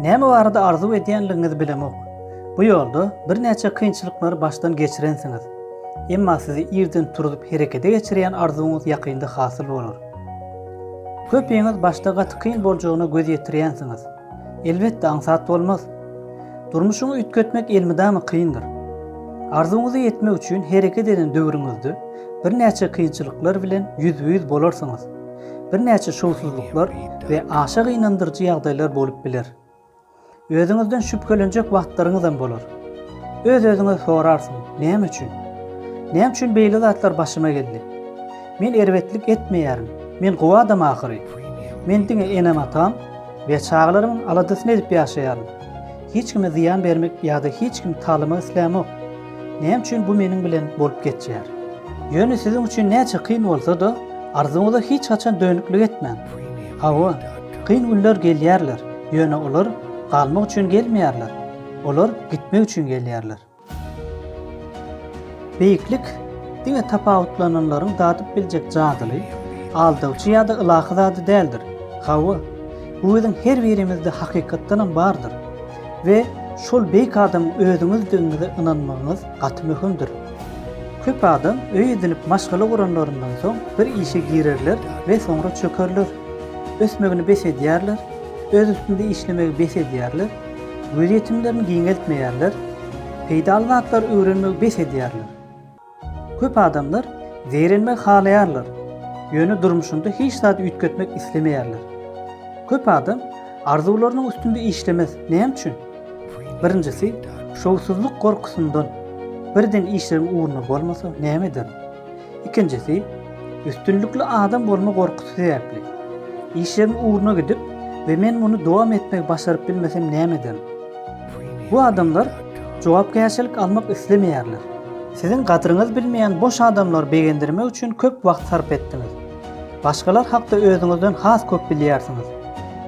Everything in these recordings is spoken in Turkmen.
Näme barada arzuw edýänligiňizi bilemok. Bu ýolda birnäçe kynçylyklary başdan geçirensiňiz. Emma sizi irden turuzyp herekete geçirýän arzuwyňyz ýakynda hasyl bolar. Köpiňiz başda gaty kyn boljagyna göz ýetirýänsiňiz. Elbetde aňsat bolmaz. Durmuşyňy üýtgetmek elmydama kyndyr. Arzuwyňyza ýetmek üçin hereket eden döwrüňizde birnäçe kynçylyklar bilen ýüzbe-ýüz bolarsyňyz. Birnäçe şowsuzlyklar we aşa gynandyryjy ýagdaýlar bolup biler. Özüňizden şübhelenjek wagtlaryňyzam bolar. Öz-özüňe sorarsyň, Näme üçin? Näme üçin beýle zatlar başyma geldi? Men erbetlik etmeýärin, men gowy adam ahyry. Men diňe enem-atam, We çagalaryň aladasyny edip ýaşaýaryn. Hiç kime zyýan bermek ýa-da hiç kimi talamak islämok. Näme üçin bu meniň bilen bolup geçýär? Ýöne siziň üçin näçe kyn bolsa-da, arzuwyňyza hiç haçan dönüklik etmäň. Hawa, kyn günler gelýärler, ýöne olar galmak üçin gelmeýärler, olar gitmek üçin gelýärler. Beýiklik diňe tapawutlananlaryň dadyp biljek jadyly, aldawçy ýa-da ylahy zady däldir. Hawa, bu biziň her birimizde hakykatdanam bardyr. We şol beýik adamyň özüňizdigiňize ynanmagyňyz gaty möhümdir. Köp adam öý edinip maşgala guranlaryndan soň bir işe girerler we soňra çökerler. Ösmegini bes edýärler, öz üstünde işlemegi bes edýärler. Gözýetimlerini giňeltmeýärler, peýdaly zatlary öwrenmegi bes edýärler. Köp adamlar zeýrenmegi halaýarlar, ýöne durmuşynda hiç zady üýtgetmek islemeýärler. Köp adam arzuwlarynyň üstünde işlemez. Näme üçin? Birinjisi, şowsuzlyk gorkusyndan. Birden işleriň ugruna bolmasa, näme ederin? Ikinjisi, üstünlikli adam bolma gorkusy sebäpli. Işigiň ugruna gidip we men muny dowam etmegi başaryp bilmesem näme ederin? Bu adamlar jogapkärçilik almak islemeýärler. Siziň gadyryňyzy bilmeýän boş adamlary begendirmek üçin köp wagt sarp etdiňiz. Başgalar hakda özüňizden has köp bilýärsiňiz.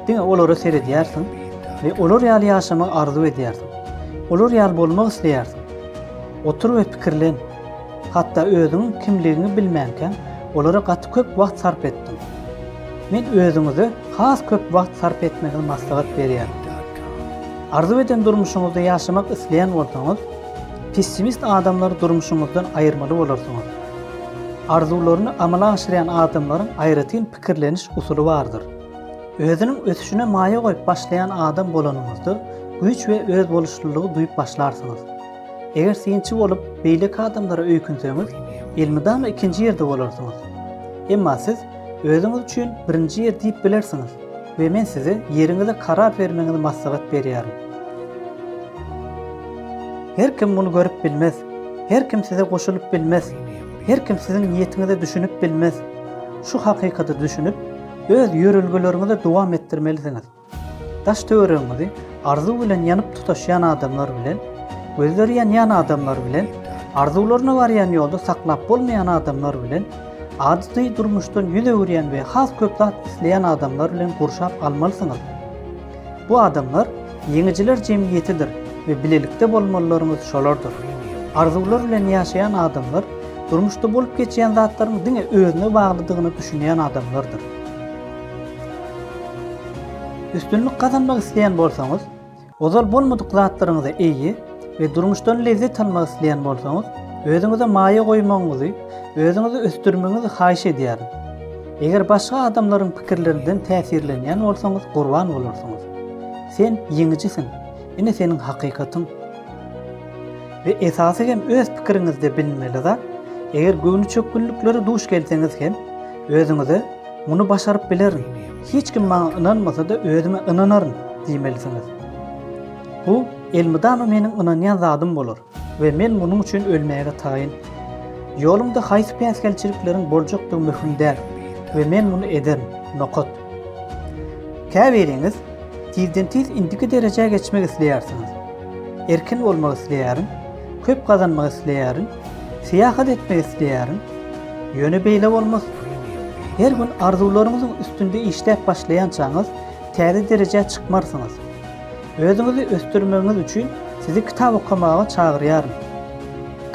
Diňe olara seredýärsiň we olar ýaly ýaşamagy arzuw edýärsiň. Olar ýaly bolmak isleýärsiň. Otur we pikirlen. Hatda özüňiň kimligiňi bilmänkäň, olara gaty köp wagt sarp etdiň. Men özüňize has köp wagt sarp etmegiňizi maslahat berýän. Arzuw eden durmuşyňyzda ýaşamak isleýän bolsaňyz, pessimist adamlary durmuşyňyzdan aýyrmaly bolarsyňyz. Arzuwlaryny amala aşyrýan adamlaryň aýratyn pikirleniş usuly bardyr. Özüniň ösüşine maýa goýup başlaýan adam bolanyňyzda, güýç we özboluşlylygy duýup başlarsyňyz. Eger synçy bolup, beýleki adamlara öýkünseňiz, elmydama ikinji ýerde bolarsyňyz. Emma siz özüňiz üçin birinji ýer diýip bilersiňiz we men size ýeriňize karar bermegiňizi maslahat berýärin. Her kim muny görüp bilmez. Her kim size goşulyp bilmez. Her kim siziň niýetiňize düşünip bilmez. Şu hakykata düşünip, öz ýörelgeleriňizi dowam etdirmelisiňiz. Daş-töweregiňizi arzuw bilen ýanyp tutaşýan adamlar bilen, gözleri ýanýan adamlar bilen, arzuwlaryna barýan ýolda saklap bolmaýan adamlar bilen, ady-ty durmuşdan ýüz öwürýän we has köp zat isleýän adamlar bilen gurşap almalysyňyz. Bu adamlar ýeňijiler jemgyýetidir we bilelikde bolmalylaryňyz şolardyr. Arzuwlar bilen ýaşaýan adamlar durmuşda bolup geçýän zatlaryň diňe özüne baglydygyna düşünýän adamlardyr. Üstünlik gazanmak isleýän bolsaňyz, ozal bolmadyk zatlaryňyza eýe we durmuşdan lezzet almak isleýän bolsaňyz, özüňize maýa goýmagyňyzy, özüňizi ösdürmegiňizi haýyş edýärin. Eger başga adamlaryň pikirlerinden täsirlenýän bolsaňyz gurban bolarsyňyz. Sen ýeňijisiň, ine seniň hakykatyň. We esasy hem öz pikiriňizde bilinmeli zat, eger göwnüçökgünliklere duş gelseňiz hem, Özüňize Muny başaryp bilerin. Hiç kim maňa ynanmasa-da özüme ynanaryn diýmelisiňiz. Bu elmydama meniň ynanýan zadym bolar we men munuň üçin ölmäge taýyn. Ýolumda haýsy päsgelçilikleriň boljakdygy möhüm däl we men muny ederin. Nokat. Käbiriňiz tizden-tiz indiki derejä geçmek isleýärsiňiz. Erkin bolmak isleýärin, köp gazanmak isleýärin, Syýahat etmek isleýärin, ýöne beýle bolmaz. Her gün arzuwlaryňyzyň üstünde işläp başlaýançaňyz täze derejä çykmarsyňyz. Özüňizi ösdürmegiňiz üçin sizi kitap okamaga çagyrýaryn.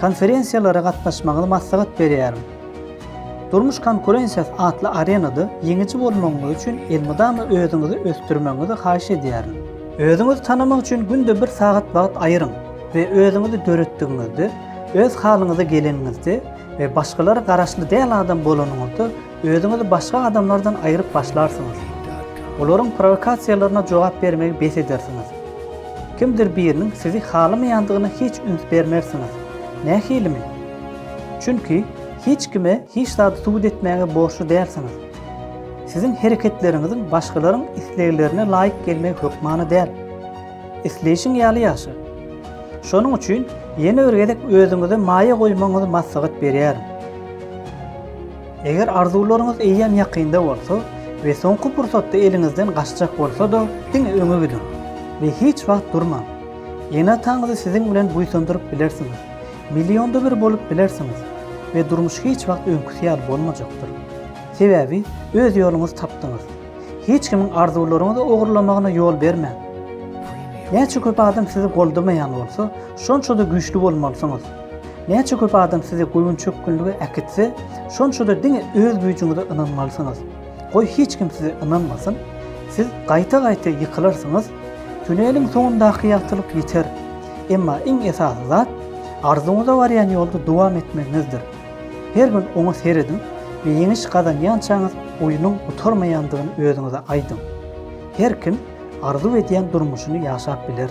Konferensiýalara gatnaşmagyňyzy maslahat berýärin. Durmuş konkurensiýasy atly arenada ýeňiji bolmagyňyz üçin elmydama özüňizi ösdürmegiňizi haýyş edýärin. Özüňizi tanamak üçin günde bir sagat wagt aýyryň we özüňizi döretdigiňizde, öz halyňyza geleniňizde we başgalara garaşly däl adam bolanyňyzda özüňizi başga adamlardan aýyryp başlarsyňyz. Olaryň prowokasiýalaryna jogap bermegi bes edersiňiz. Kimdir biriniň sizi halamaýandygyna hiç üns bermersiňiz. Nähilimi? Çünki hiç kime hiç zady subut etmäge borçly dälsiňiz. Siziň hereketleriňiziň başgalaryň isleglerine laýyk gelmegi hökmany däl. Isleýşiň ýaly ýaşa. Şonuň üçin ýene bir gezek özüňize maýa goýmagyňyzy maslahat berýärin. Eger arzuwlaryňyz eýýäm ýakynda bolsa we soňky pursatda eliňizden gaçjak bolsa-da, diňe öňe gidiň we hiç wagt durmaň. Ene-ataňyzy siziň bilen buýsandyryp bilersiňiz. Millionda bir bolup bilersiňiz we durmuş hiç wagt öňküsi ýaly bolmajakdyr. Sebäbi öz ýoluňyzy tapdyňyz. Hiç kimiň arzuwlaryňyzy ogurlamagyna ýol bermäň. Näçe köp adam sizi goldamaýan bolsa, şonça-da güýçli bolmalysyňyz. Näçe köp adam sizi göwün-çökgünlige äkitse, şonça-da diňe öz güýjüňize ynanmalysyňyz. Goý hiç kim size ynanmasyn, siz gaýta-gaýta ýykylarsyňyz. Tüneliň soňundaky ýagtylyk ýeter. Emma iň esasy zat, arzuwyňyza barýan ýolda dowam etmegiňizdir. Her gün oňa serediň we ýeňiş gazanýançaňyz oýnuň gutarmaýandygyny özüňize aýdyň. Her kim arzuw edýän durmuşyny ýaşap biler.